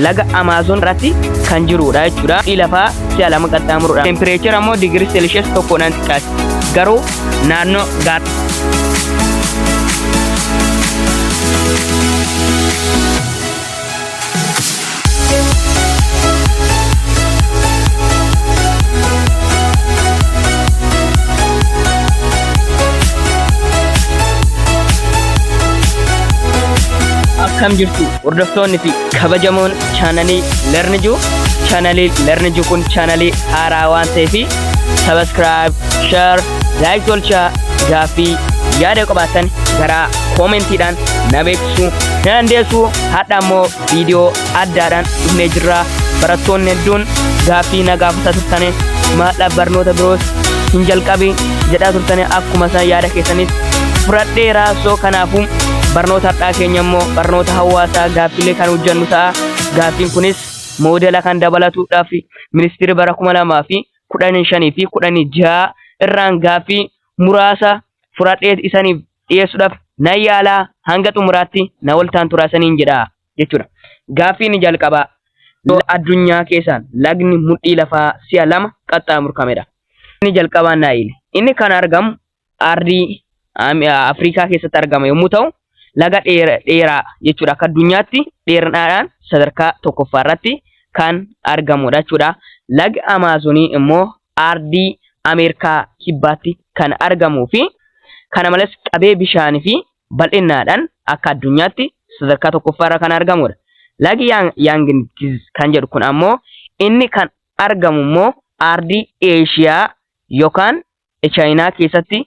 laga Amaazoon irratti kan jirudha jechuudha. Fi lafaa si'a lama qaxxaamurudha. Tempireechara immoo digirii seelshiyas tokkoodhaan xiqqaati. Garuu naannoo gaara. Akkam jirtu? Hordoftoonni fi kabajamoon chaanalii Lernijiu chaanalii Lernijiu kun chaanalii haaraa waan ta'eef sabaskiraayib, share, like tolchaa gaaffii yaada qabaatan garaa koomentiidhaan na beeksisuu ni dandeessu. Hadha immoo viidiyoo addaadhaan dhufnee jirra. Barattoonni hedduun gaaffii na gaafata turtanii maadhaaf barnoota biroos hin jalqabi. jedhaa turtanii akkuma isaan yaada keessanis fudhadheera soo kanaafuu barnoota har'aa keenya immoo barnoota hawaasaa gaaffilee kan hojjannu ta'a gaaffiin kunis moodela kan dabalatuudhaaf ministeerri bara kuma lamaa fi kudhanii shanii fi kudhanii jaha irraan gaaffii muraasa fudhadhee isaniif dhiyeessuudhaaf nan yaalaa hanga xumuraatti na waltaan turaasaniin jedha. jechuudha. Gaaffii inni jalqabaa yoo addunyaa keessaan lagni mudhii lafaa si'a lama qaxxaamurkamedha. Inni jalqabaa Naayil. Inni kan argamu ardii Afrikaa keessatti argama yommuu ta'u laga dheeraa jechuudha akka addunyaatti dheerinaadhaan sadarkaa tokkoffaa irratti kan argamudha jechuudha. Lagi Amaazonii immoo ardii Ameerikaa kibbaatti kan argamuu fi kana malees qabee bishaanii fi bal'innaadhaan akka addunyaatti sadarkaa tokkoffaa irra kan argamudha. Lagi Yang- Yangtze kan jedhu kun ammoo inni kan argamu immoo aardii Eeshiyaa yookaan Chaayinaa keessatti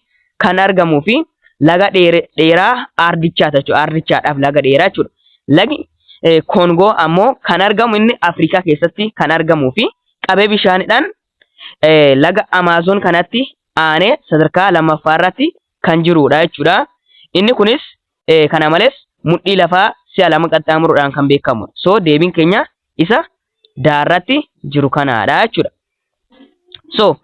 kan argamuu fi laga dheere- dheeraa aardichaa jechuudha. Aardichaadhaaf laga dheeraa jechuudha. Lagi eh, Koongoo ammoo kan argamu inni Afrikaa keessatti kan argamuu fi qabee bishaanidhaan eh, laga Amaazoon kanatti aanee sadarkaa lammaffaa irratti kan jiruudha jechuudha. Inni kunis kana malees mudhii lafaa si'a lama qaxxaamuruudhaan kan beekamu. So deebiin keenya isa daarratti jiru kanaadha jechuudha. So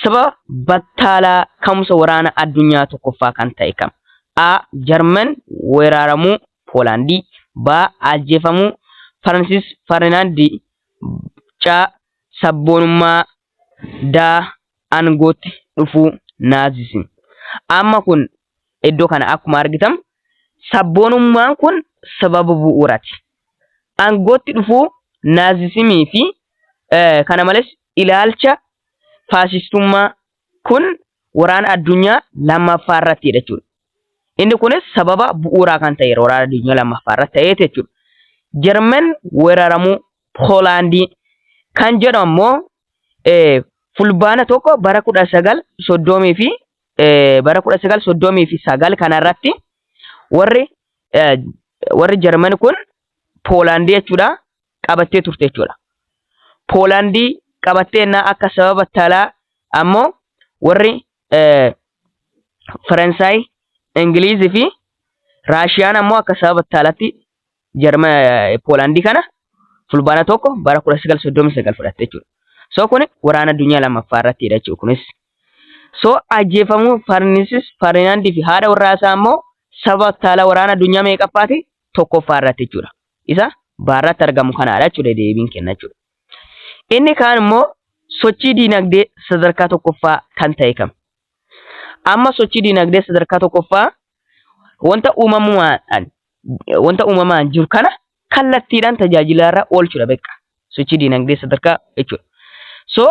sababa battaalaa ka'umsa waraana addunyaa tokkoffaa kan ta'e kam? A. Jarman weeraramuu Poolaandii. B. Ajjeefamuu Faransis Ferdinaand. C. Sabboonummaa da aangootti dhufuu Naazism. Amma kun iddoo kana akkuma argitan sabboonummaan kun sababa bu'uurati. Aangootti dhufuu Naazisimii fi kana malees ilaalcha faashistummaa kun waraana addunyaa lammaffaa irratti jechuudha. Inni kunis sababa bu'uuraa kan ta'eera waraana addunyaa lammaffaa irratti ta'eeti jechuudha. Jarman weeraramuu Poolaandii kan jedhu ammoo fulbaana tokko bara kudha sagal soddomii fi bara kudha sagal soddomii fi sagal kanarratti warri warri Jarman kun Poolaandii jechuudha qabattee turte jechuudha. Poolaandii qabattee innaa akka sababa talaa ammoo warri Faransaay, Ingiliiz fi Raashiyaan ammoo akka sababa battaalatti jarma Poolaandii kana fulbaana tokko bara 1939 fudhatte jechuudha. So kun waraana addunyaa lammaffaa irratti hidha jechuudha kunis. So ajjeefamuu Farnisis Farinaandii fi haadha warraa isaa ammoo sababa battaala waraana addunyaa meeqaffaati tokkoffaa irratti jechuudha. Isa baarratti argamu kanaadha jechuudha deebiin kenna jechuudha. Inni kaan immoo sochii diinagdee sadarkaa tokkoffaa kan ta'e kam? Amma sochii diinagdee sadarkaa tokkoffaa wanta uumamumaan wanta uumamaan jiru kana kallattiidhaan tajaajilaarra oolchudha beekaa. Sochii diinagdee sadarkaa jechuudha. So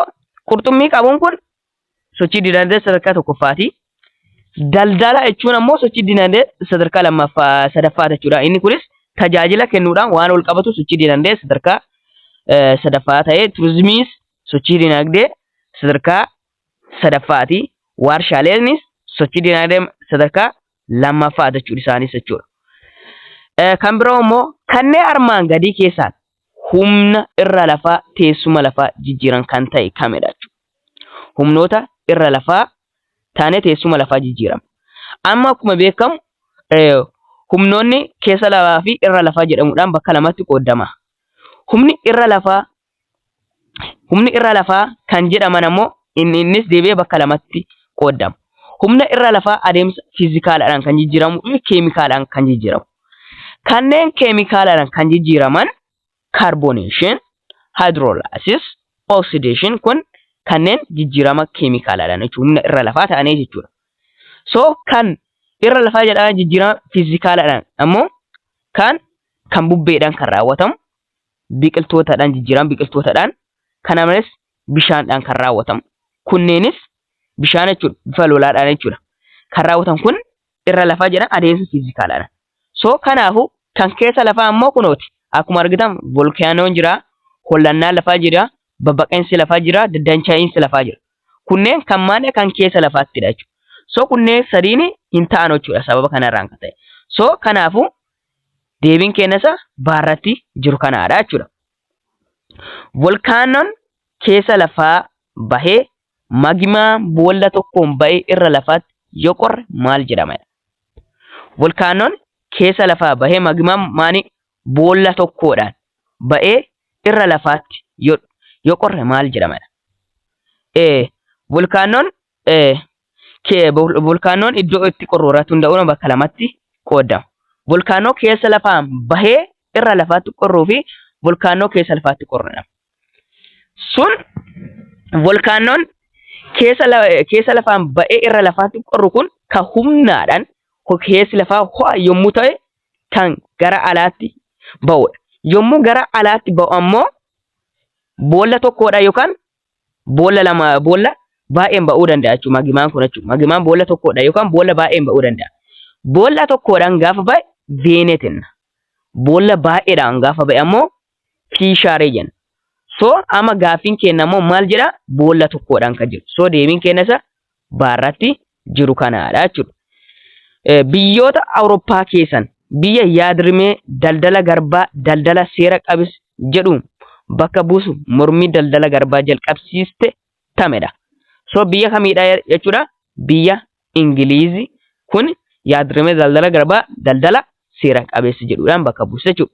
qurxummii qabuun kun sochii dinagdee sadarkaa tokkoffaati. Daldala jechuun ammoo sochii dinagdee sadarkaa lammaffaa sadaffaa jechuudha. Inni kunis tajaajila kennuudhaan waan wal qabatu sochii dinagdee sadarkaa eh, sadaffaa ta'ee turizimiis sochii dinagdee sadarkaa sadaffaati. Waarshaaleenis sochii dinagdee sadarkaa lammaffaa jechuudha isaanis jechuudha. Eh, Kan biroo immoo kanneen armaan gadii keessaan Humna irra lafaa teessuma lafaa jijjiiran kan ta'e kamidha jechuudha. Humnoota irra lafaa taanee teessuma lafaa jijjiiran. Amma akkuma beekamu humnoonni keessa lafaa fi irra lafaa jedhamuudhaan bakka lamatti qoodama. Humni irra lafaa Humni irra lafaa kan jedhaman ammoo inni innis deebi'ee bakka lamatti qooddama. Humna irra lafaa adeemsa fiizikaalaadhaan kan jijjiiramu fi keemikaalaadhaan kan jijjiiramu. Kanneen keemikaalaadhaan kan jijjiiraman kaarbooneeshin, haayidroolaasis, oksideeshin kun kanneen jijjiirama keemikaalaadhaan jechuudha. Humna irra lafaa ta'anii jechuudha. So kan irra lafaa jedhaman jijjiirama fiizikaalaadhaan ammoo kan kan bubbeedhaan kan raawwatamu biqiltootadhaan jijjiirama biqiltootadhaan kana malees bishaandhaan kan raawwatamu. Kunneenis bishaan jechuudha bifa lolaadhaan jechuudha. Kan raawwatan kun irra lafaa jedhan adeemsa fiizikaalaadha. So kanaafuu kan keessa lafaa ammoo kunooti. Akkuma argitan volkaanoon jira, hollannaan lafaa jira, babbaqinsi lafaa jira, daddancha'iinsi lafaa jira. Kunneen kan maadha kan keessa lafaattidha jechuudha. So kunneen sadiin hin ta'an jechuudha sababa kanarraan kan ta'e. So kanaafuu Deebiin keenya isa baarratti jiru kanaadha jechuudha. Volkaanoon keessa lafaa bahee magimaa boolla tokkoon ba'e irra lafaatti yoo qorre maal jedhama? Volkaanoon keessa lafaa bahee magimaa maanii boolla tokkoodhaan ba'ee irra lafaatti yoo qorre maal jedhama? Volkaanoon Volkaanoon iddoo itti qorru irratti hunda'uun bakka lamatti qoodama. Volkaanoo keessa lafaan bahee irra lafaatti qorruu fi volkaanoo keessa lafaatti qorru jedhama. Sun volkaanoon keessa lafaan ba'ee irra lafaatti qorru kun kan humnaadhaan keessi lafaa ho'a yommuu ta'e kan gara alaatti ba'udha. Yommuu gara alaatti ba'u ammoo boolla tokkodha yookaan boolla lama boolla baay'een ba'uu danda'a jechuudha magimaan kun jechuudha magimaan boolla tokkodha yookaan boolla baay'een ba'uu danda'a boolla tokkodhaan gaafa ba'e veenetin boolla baay'eedhaan gaafa ba'e ammoo piishaaree jenna so amma gaaffiin keenya ammoo maal jedha boolla tokkodhaan kan jiru so deebiin keenya isa baarratti jiru kanaadha jechuudha. Biyyoota Awurooppaa keessan biyya yaadrimee daldala garbaa daldala seera qabis jedhu bakka buusu mormii daldala garbaa jalqabsiiste tamedha. So biyya kamiidha jechuudha? Biyya Ingiliizi kun yaadrimee daldala garbaa daldala seera qabeessa jedhuudhaan bakka buusa jechuudha.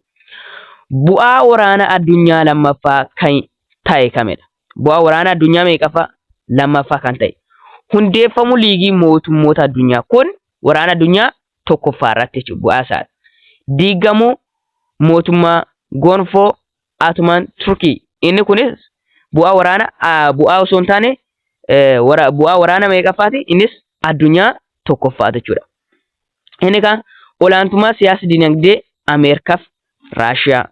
Bu'aa waraana addunyaa lammaffaa kan ta'e kamidha? bu'aa waraanaa addunyaa meeqaffaa? Lammaffaa kan ta'e. Hundeeffamuu liigii mootummoota addunyaa kun waraana addunyaa tokkoffaa irratti jechuudha bu'aa isaa. Diigamuu mootummaa gonfoo Atumaan Turkii inni kunis bu'aa waraana bu'aa osoo hin taane bu'aa waraana meeqaffaati innis addunyaa tokkoffaati jechuudha. Inni kaan olaantummaa siyaasa dinagdee Ameerikaaf Raashiyaa.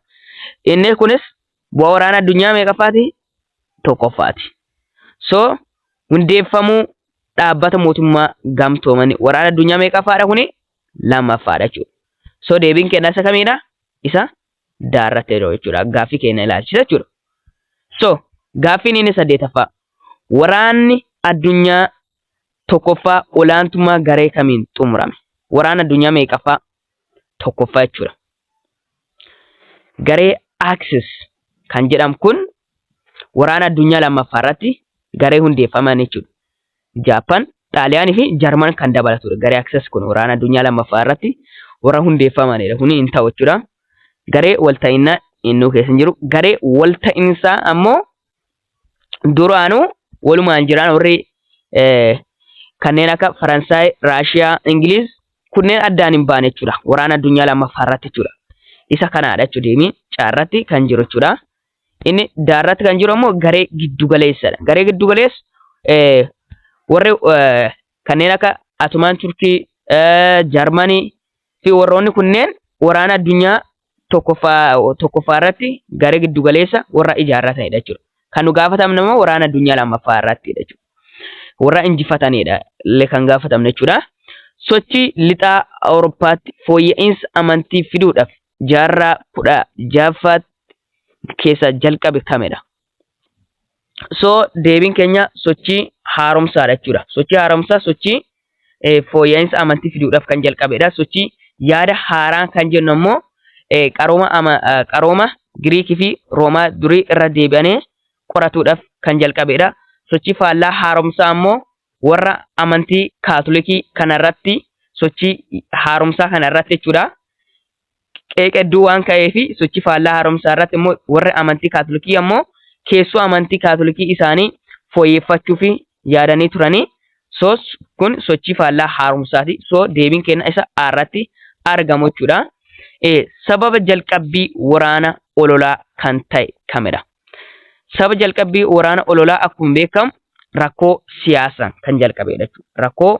Inni kunis Bu'aa waraana addunyaa meeqaffaati? Tokkoffaati. So hundeeffamuu dhaabbata mootummaa gamtoomanii waraana addunyaa meeqaffaadha kuni? Lammaffaadha jechuudha. So deebiin keenya isa kamiidha? Isa daarratti jedhu jechuudha. Gaaffii keenya ilaalchisa jechuudha. So gaaffiin inni saddeetaffaa waraanni addunyaa tokkoffaa olaantummaa garee kamiin xumurame? Waraana addunyaa meeqaffaa? Tokkoffaa jechuudha. Garee Axis kan jedhamu kun waraana addunyaa lammaffaa irratti garee hundeeffaman jechuudha. Jaappan, Xaaliyaanii fi Jarman kan dabalatudha. Garee Axis kun waraana addunyaa lammaffaa irratti warra hundeeffamanidha. Kuni hin ta'u jechuudha. Garee walta'innaa innuu keessa hin jiru. Garee walta'insaa ammoo duraanuu walumaan jiran warri kanneen akka Faransaay, Raashiyaa, Ingiliiz kunneen addaan hin baane jechuudha. Waraana addunyaa lammaffaa irratti jechuudha. Isa kanaadha jechuudha deemii caarratti kan jiru jechuudha. Inni daarratti kan jiru ammoo garee giddugaleessadha. Garee giddugaleessa warri kanneen akka Atumaan Turkii, Jarmanii fi warroonni kunneen waraana addunyaa tokkoffaa tokkoffaa irratti garee giddu galeessa warra ijaarraa ta'edha jechuudha. Kan nu gaafatamne immoo waraana addunyaa lammaffaa irratti jechuudha. Warra injifatanidha illee kan gaafatamne jechuudha. Sochii lixaa Awurooppaatti fooyya'insa amantii fiduudhaaf jaarraa kudha ja'affaatti keessaa jalqabe kamidha? So deebiin keenya sochii haaromsaadha jechuudha. Sochii haaromsaa sochii eh, fooyya'insa amantii fiduudhaaf kan jalqabedha. Sochii yaada haaraa kan jennu ammoo eh, qarooma, ama, eh, qarooma Giriikii fi Roomaa durii irra deebi'anii qoratuudhaaf kan jalqabedha. Sochii faallaa haaromsaa ammoo warra amantii kaatolikii kanarratti sochii haaromsaa kanarratti jechuudha. qeeqa hedduu waan ka'eefi sochii faallaa haaromsaa irratti immoo warri amantii kaatolikii ammoo keessoo amantii kaatolikii isaanii fooyyeffachuufi yaadanii turanii soos kun sochii faallaa haaromsaati soo deebiin kenna isa a irratti argamu jechuudha. Sababa jalqabbii waraana ololaa kan ta'e kamidha? Sababa jalqabbii waraana ololaa akkuma beekamu rakkoo siyaasaan kan jalqabedha jechuudha. Rakkoo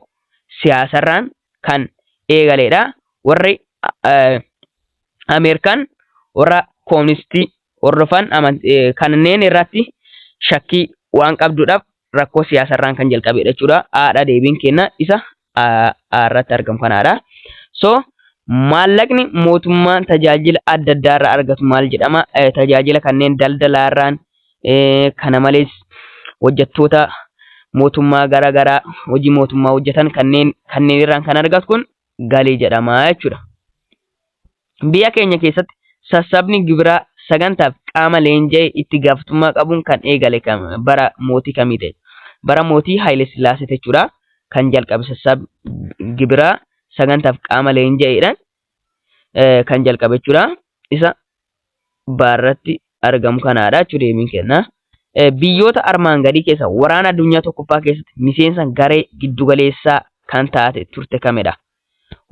siyaasarraan kan eegaleedha. Warri Ameerikaan warra kooministii hordofan kanneen irratti shakkii waan qabduudhaaf rakkoo siyaasarraan kan jalqabeedha jechuudha. Haadha deebiin kenna isa irratti argamu kanaadha. So maallaqni mootummaan tajaajila adda addaarraa argatu maal jedhama? Tajaajila kanneen daldalaarraan Kana malees hojjettoota mootummaa gara garaa hojii mootummaa hojjetan kanneen kanneen irraan kan argatu kun galii jedhama jechuudha. Biyya keenya keessatti sassabni gibiraa sagantaaf qaama leenja'e itti gaafatamummaa qabuun kan eegale bara mootii kamii ta'e? Bara mootii Haayile Sillaasee jechuudha kan jalqabe sassabni gibiraa sagantaaf qaama leenja'eedhaan eh, kan jalqabe jechuudha isa baarratti argamu kanaadha jechuu deebiin kenna. Eh, biyyoota armaan gadii keessa waraana addunyaa tokkoffaa keessatti miseensa garee giddugaleessaa kan taate turte kamidha?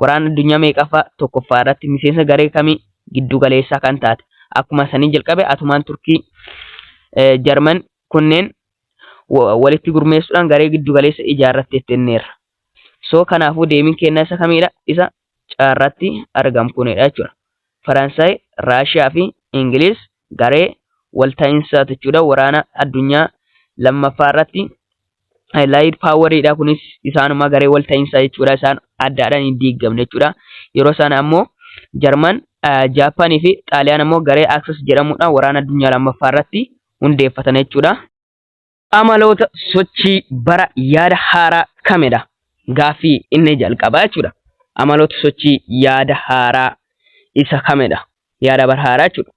Waraana addunyaa meeqaffaa tokkoffaa irratti miseensa garee kamii giddugaleessaa kan taate? Akkuma sanii jalqabe atumaan Turkii, eh, Jarman kunneen wa- walitti gurmeessuudhaan garee giddugaleessa ijaarratte jetteerra. So kanaafuu deebiin kennaa isa kamidha? Isa carraatti argamkunidha jechuudha. Faransaay, Raashiyaa fi Ingiliiz garee walta'iinsaati jechuudha. Waraana addunyaa lammaffaa irratti laayid paawariidha kunis isaanuma garee walta'iinsaa jechuudha. Isaan addaadhaan hin diigamne jechuudha. Yeroo sana ammoo Jarman, Jaappaanii fi Xaaliyaan ammoo garee Aksis jedhamudha. Waraana addunyaa lammaffaa irratti hundeeffatan jechuudha. Amaloota sochii bara yaada haaraa kamidha? Gaaffii inni jalqabaa jechuudha. Amaloota sochii yaada haaraa isa kamidha? Yaada bara haaraa jechuudha.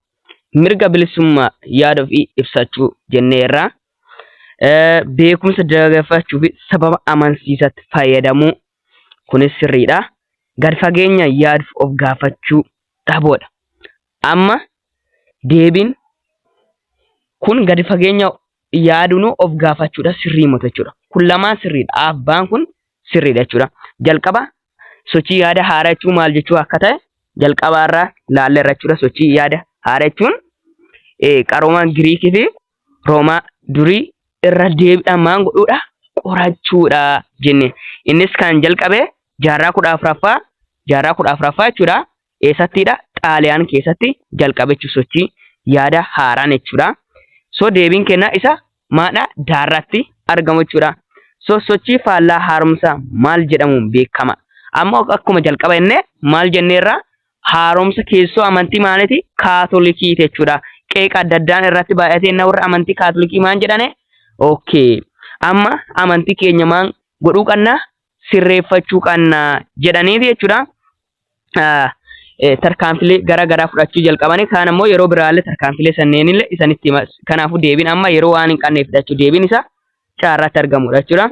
Mirga bilisummaa yaada ofii ibsachuu jennee irraa beekumsa dagaagfachuu fi sababa amansiisatti fayyadamuu kunis sirriidha. Gad fageenya yaaduuf of gaafachuu dhabuudha. Amma deebiin kun gadi fageenya yaadunu of gaafachuudha sirrii mota jechuudha. Kun lamaan sirriidha. Aaf baan kun sirriidha jechuudha. Jalqaba sochii yaada haaraa jechuun maal jechuu akka ta'e jalqabaa irraa laalle irra jechuudha. Sochii yaada haaraa jechuun qaroomaan Giriikii fi Roomaa durii irra deebiidhaan maal godhuudha qorachuudha jenne. Innis kan jalqabe jaarraa kudha afuraffaa jaarraa kudha afuraffaa jechuudha. Eessattiidha? Xaaliyaan keessatti jalqabe jechuudha. Sochii yaada haaraan jechuudha. So deebiin kennaa isa maadha? Daarratti argamu jechuudha. So sochii faallaa haaromsa maal jedhamuun beekama? Amma akkuma jalqaba jennee maal jenneerra? Haaromsa keessoo amantii maaliti? Kaatolikii jechuudha. Qeeqa adda addaan irratti baay'atee na warra amantii kaatolikii maal jedhane? Okay. Amma amantii keenya maal godhuu qabna? Sirreeffachuu qabna jedhaniiti jechuudha. tarkaanfilee gara garaa fudhachuu jalqabanii kaan ammoo yeroo biraallee tarkaanfilee sanneenillee isanitti hima. Kanaafuu deebiin amma yeroo waan hin qabneef jechuudha. Deebiin isaa carraatti argamudha jechuudha.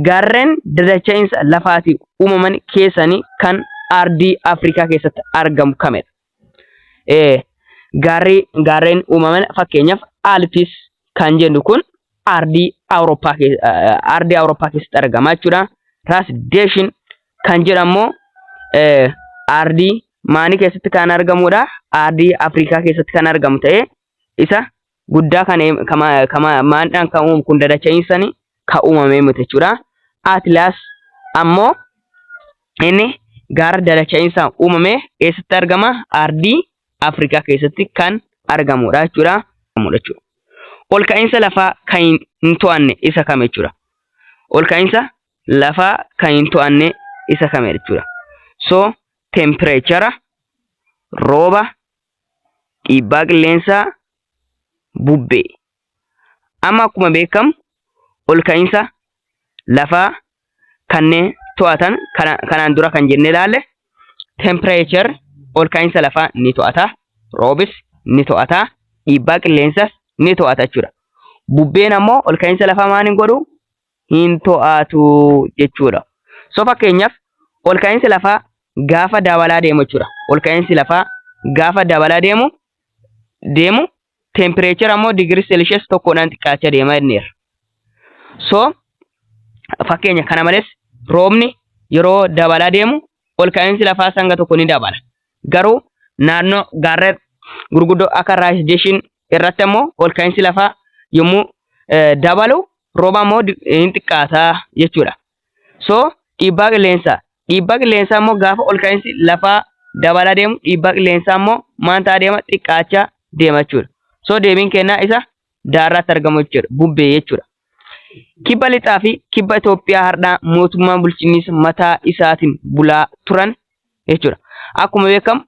Gaarreen dadacha'iinsa lafaatiin uumaman keessanii kan ardii Afrikaa keessatti argamu kamidha? Eh, gaarri gaarreen uumaman fakkeenyaaf Alpis kan jennu kun ardii Awurooppaa keessa- eh, ardii Awurooppaa keessatti argama jechuudha. Raas Deeshin kan jedhamu eh, ardii maanii keessatti kan argamudha. Ardii Afrikaa keessatti kan argamu ta'ee isa guddaa kan maandhaan kan uumu kun dadacha'iinsani kan uumamee miti jechuudha. Atlas ammoo inni gaara dadacha'iinsaan uumame eessatti argama? Ardii Afrikaa keessatti kan argamudha jechuudha. Ol ka'iinsa lafaa kan hin to'anne isa kame jechuudha. Ol ka'iinsa lafaa kan hin to'anne isa kame jechuudha. So temperature, rooba, dhiibbaa qilleensaa bubbee amma akkuma beekamu ol ka'iinsa lafaa kanneen to'atan kanaan dura kan jennee ilaalle tempireechar ol ka'iinsa lafaa ni to'ata roobis ni to'ata dhiibbaa qilleensas ni to'ata jechuudha. Bubbeen ammoo ol ka'iinsa lafaa maal hin godhu hin to'atu jechuudha. So fakkeenyaaf ol ka'iinsi lafaa gaafa dabalaa deemu jechuudha. Ol ka'iinsi lafaa gaafa dabalaa deemu deemu tempireechara immoo digirii seelishees tokkodhaan xiqqaachaa deema jenneerra. So fakkeenya kana malees roobni yeroo dabalaa deemu ol ka'iinsi lafaa hanga tokko ni dabala. Garuu naannoo gaarreen gurguddoo akka Raayis Deeshiin irratti ammoo ol ka'iinsi lafaa yommuu dabalu rooba ammoo hin xiqqaata jechuudha. So dhiibbaa qilleensaa. Dhiibbaa qilleensaa ammoo gaafa ol ka'iinsi lafaa dabalaa deemu dhiibbaa qilleensaa ammoo maal ta'a deema xiqqaachaa deema jechuudha. So deebiin kennaa isa Daarraatti argamu jechuudha. Bubbee jechuudha. Kibba lixaa fi kibba Itoophiyaa hardhaa mootummaa bulchiinsa mataa isaatiin bulaa turan jechuudha. Akkuma beekamu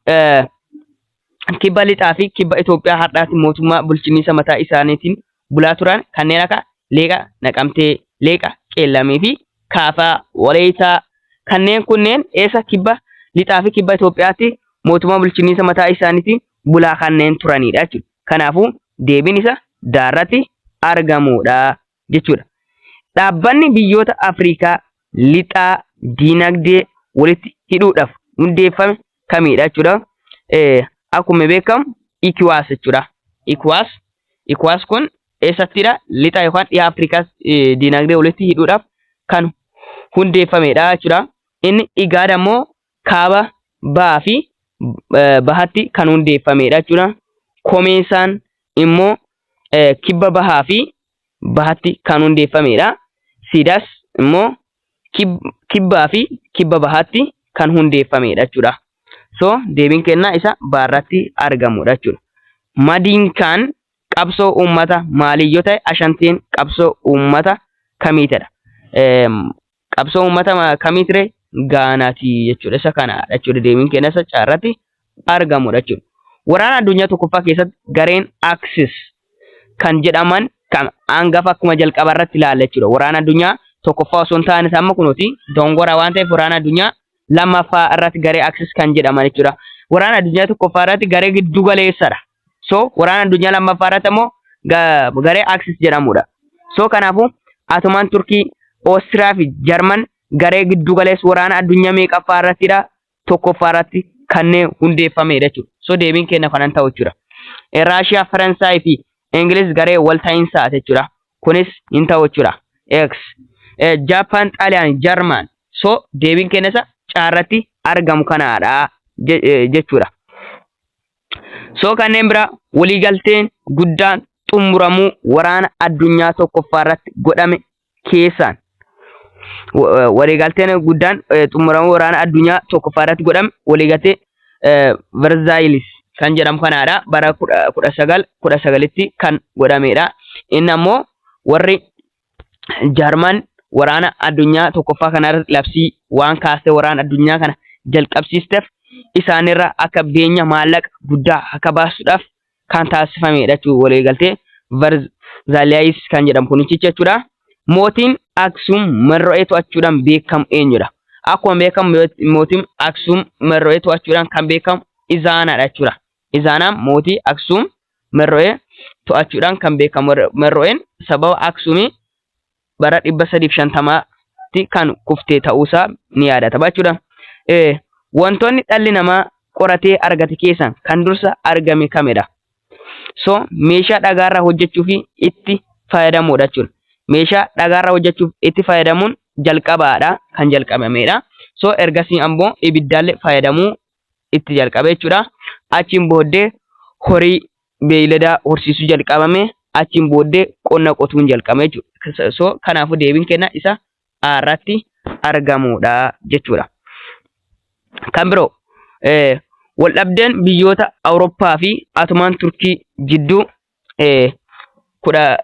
kibba lixaa fi kibba Itoophiyaa hardhaatti mootummaa bulchiinsa mataa isaaniitiin bulaa turan kanneen akka Leeqa Naqamtee, Leeqa Qeellamii fi Kaafaa Walayitaa kanneen kunneen eessa kibba lixaa fi kibba Itoophiyaatti mootummaa bulchiinsa mataa isaaniitiin bulaa kanneen turanidha jechuudha. Kanaafuu deebiin isa daa irratti argamuudha jechuudha. Dhaabbanni biyyoota Afriikaa lixaa diinagdee walitti hidhuudhaaf hundeeffame kamiidha jechuudha. Akkuma beekamu Ikiwaas jechuudha. Ikiwaas Ikiwaas kun eessattidha? Lixa yookaan dhiha Afriikaas diinagdee walitti hidhuudhaaf kan hundeeffamedha jechuudha. Inni igaada immoo kaaba, bahaa fi bahatti kan hundeeffameedha jechuudha. Komeesaan immoo kibba bahaa fi bahatti kan hundeeffameedha. Siidaas immoo kibbaa fi kibba bahaatti kan hundeeffameedha jechuudha. So deebiin kennaa isa baarratti argamudha jechuudha. Madiin kaan qabsoo uummata maalii yoo ta'e ashanteen qabsoo uummata kamiitadha. Qabsoo uummata ma- kamii ture? Gaanaati jechuudha. Isa kanaadha jechuudha. Deebiin keenyas achi irratti argamudha jechuudha. Waraana addunyaa tokkoffaa keessatti gareen Axis kan jedhaman kan hangafa akkuma jalqaba irratti ilaalla jechuudha. Waraana addunyaa tokkoffaa osoo hin taane isa amma kunuuti dongora waan ta'eef waraana addunyaa lammaffaa irratti garee Axis kan jedhaman jechuudha. Waraana addunyaa tokkoffaa irratti garee giddu galeessadha. So waraana addunyaa lammaffaa irratti ammoo garee Axis jedhamudha. So kanaafuu Atomaan Turkii, Oostiriyaa fi Jarman garee giddu galeessa waraana addunyaa meeqaffaa irrattidha? Tokkoffaa irratti kanneen hundeeffamedha jechuudha. So deebiin keenya kanan ta'u jechuudha. Raashiyaa, Faransaay fi Ingiliz garee walta'iinsaati jechuudha. Kunis hin ta'u jechuudha. X. Jaappaan, Xaaliyaan, Jarman. So deebiin keenya isa caarratti argamu kanaadha jechuudha. So kanneen biraa waliigalteen guddaan xumuramuu waraana addunyaa tokkoffaa irratti godhame keessaan waliigalteen guddaan xumuramuu waraana addunyaa tokkoffaa irratti godhame waliigaltee Verzaayilis kan jedhamu kanaadha. Bara kudha sagal kudha sagalitti kan godhamedha. Inni ammoo warri Jaarmaan waraana addunyaa tokkoffaa kanarratti labsii waan kaastee waraan addunyaa kana jalqabsiisteef isaanirra akka beenya maallaqa guddaa akka baasuudhaaf kan taasifamedha jechuun waliigaltee Varzaliyaayis kan jedhamu kunichicha jechuudha. Mootiin Aksuum Marro'ee to'achuudhaan beekamu eenyudha? Akkuma beekamu mootiin Aksuum Marro'ee to'achuudhaan kan beekamu Izaanaadha jechuudha. Izaanaam mootii Aksuum Merro'ee to'achuudhaan kan beekamu Merro'een sababa Aksuumii bara 350tti kan kufte ta'uusaa ni yaadatama jechuudha. Wantoonni dhalli namaa qoratee argate keessaa kan dursa argame kamidha? So meeshaa dhagaarraa hojjechuu fi itti fayyadamuudha jechuudha. Meeshaa dhagaarraa hojjechuuf itti fayyadamuun jalqabaadha kan jalqabamedha. So ergasii ammoo ibiddaallee fayyadamuu itti jalqabe jechuudha. Achiin booddee horii beeyladaa horsiisuu jalqabame achiin booddee qonna qotuun jalqabame jechuudha. So kanaafuu deebiin kenna isa A irratti argamudha jechuudha. Kan biroo waldhabdeen biyyoota Awurooppaa fi Atomaan Turkii jidduu eh, kudha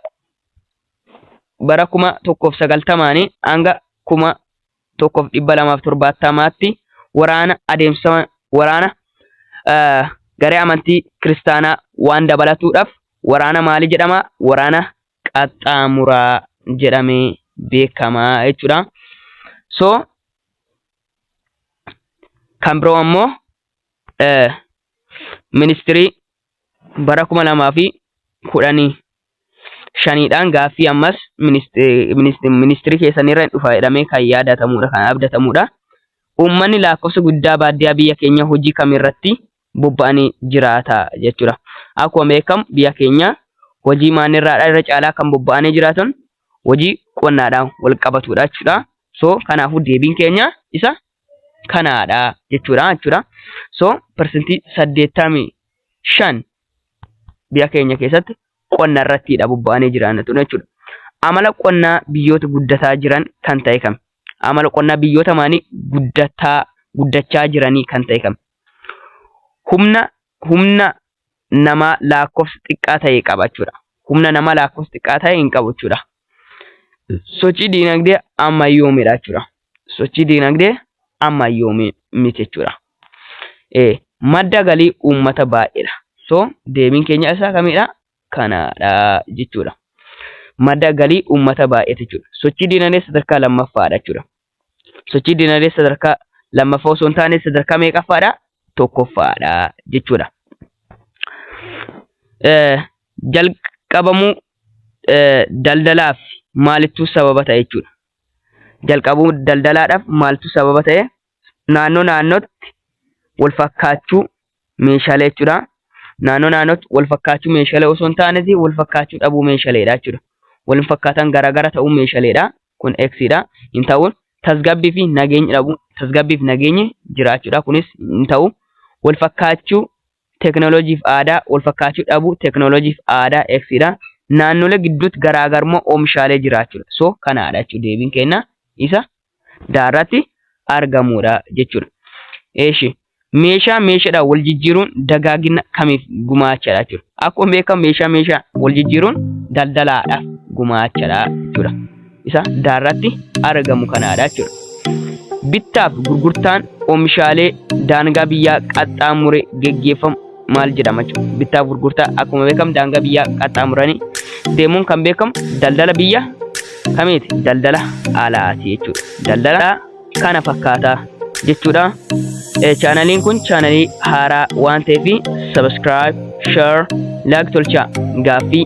bara kuma tokkoof sagaltamaanii hanga kuma tokkoof dhibba lamaaf torbaattamaatti waraana adeemsifama waraana eh, garee amantii kiristaanaa waan dabalatuudhaaf waraana maalii jedhama? Waraana qaxxaamuraa jedhamee beekama jechuudha. So kan biroo ammoo eh, ministirii bara 2010 shaniidhaan gaaffii ammas ministirii keessanirra hin dhufa jedhamee kan yaadatamuudha kan abdatamuudha. Uummanni lakkoofsa guddaa baadiyyaa biyya keenya hojii kamirratti bobba'anii jiraata jechuudha. Akkuma beekamu biyya keenya hojii maanirraadha irra caalaa kan bobba'anii jiraatan hojii qonnaadhaan wal qabatudha jechuudha. So kanaafuu deebiin keenya isa kanaadha jechuudha jechuudha. So parsantii saddeettamii shan biyya keenya keessatti qonna irrattiidha bobba'anii jiran jechuudha. Amala qonnaa biyyoota guddataa jiran kan ta'e kam? Amala qonnaa biyyoota maanii guddataa guddachaa jiranii kan ta'e kam? Humna humna namaa laakkofsa xiqqaa ta'e qaba jechuudha. Humna namaa laakkofsa xiqqaa ta'e hin qabu jechuudha. Sochii diinagdee ammayyoomedha jechuudha. Sochii diinagdee ammayyoomee miti jechuudha. Eh, madda galii uummata baay'eedha. So deebiin keenya isaa kamidha? Kanaadha jechuudha. Madda galii uummata baay'eeti jechuudha. Sochii diinagdee sadarkaa lammaffaadha jechuudha. sochii dinagdee sadarkaa lammaffaa osoo hin taane sadarkaa meeqaffaadha? Tokkoffaadha jechuudha. Jalqabamuu daldalaaf maalittuu sababa ta'e jechuudha. Jalqabuu daldalaadhaaf maaltu sababa ta'e? Naannoo naannootti wal fakkaachuu meeshaalee jechuudha. Naannoo naannootti wal fakkaachuu meeshaalee osoo hin taaneeti wal fakkaachuu dhabuu meeshaleedha jechuudha. Wal hin fakkaatan garaagara ta'uu meeshaleedha. Kun X dha. Hin ta'uun tasgabbii fi nageenyi dhabuu tasgabbii fi nageenyi jiraachuudha. Kunis hin ta'u. Wal fakkaachuu teekinooloojiif aadaa wal fakkaachuu dhabuu teekinooloojiif aadaa X dha. Naannolee gidduutti garaagarummaa oomishaalee jiraachuudha. So kanaadha jechuudha deebiin keenya isa da irratti argamuudha jechuudha. Eeshi meeshaa meeshaadhaan wal jijjiiruun dagaagina kamiif gumaachadha jechuudha. Akkuma beekamu meeshaa meeshaa wal jijjiiruun daldalaadhaaf gumaachadha jechuudha. Isa da irratti argamu kanaadha jechuudha. Bittaaf gurgurtaan oomishaalee daangaa biyyaa qaxxaamure geggeeffamu maal jedhama jechuudha. Bittaaf gurgurtaa akkuma beekamu daangaa biyyaa qaxxaamuranii deemuun kan beekamu daldala biyya kamiiti? Daldala alaati jechuudha. Daldala kana fakkaataa jechuudha. Chaanaliin kun chaanalii haaraa waan ta'eef sabiskiraayib, sheer, laayik tolchaa gaaffii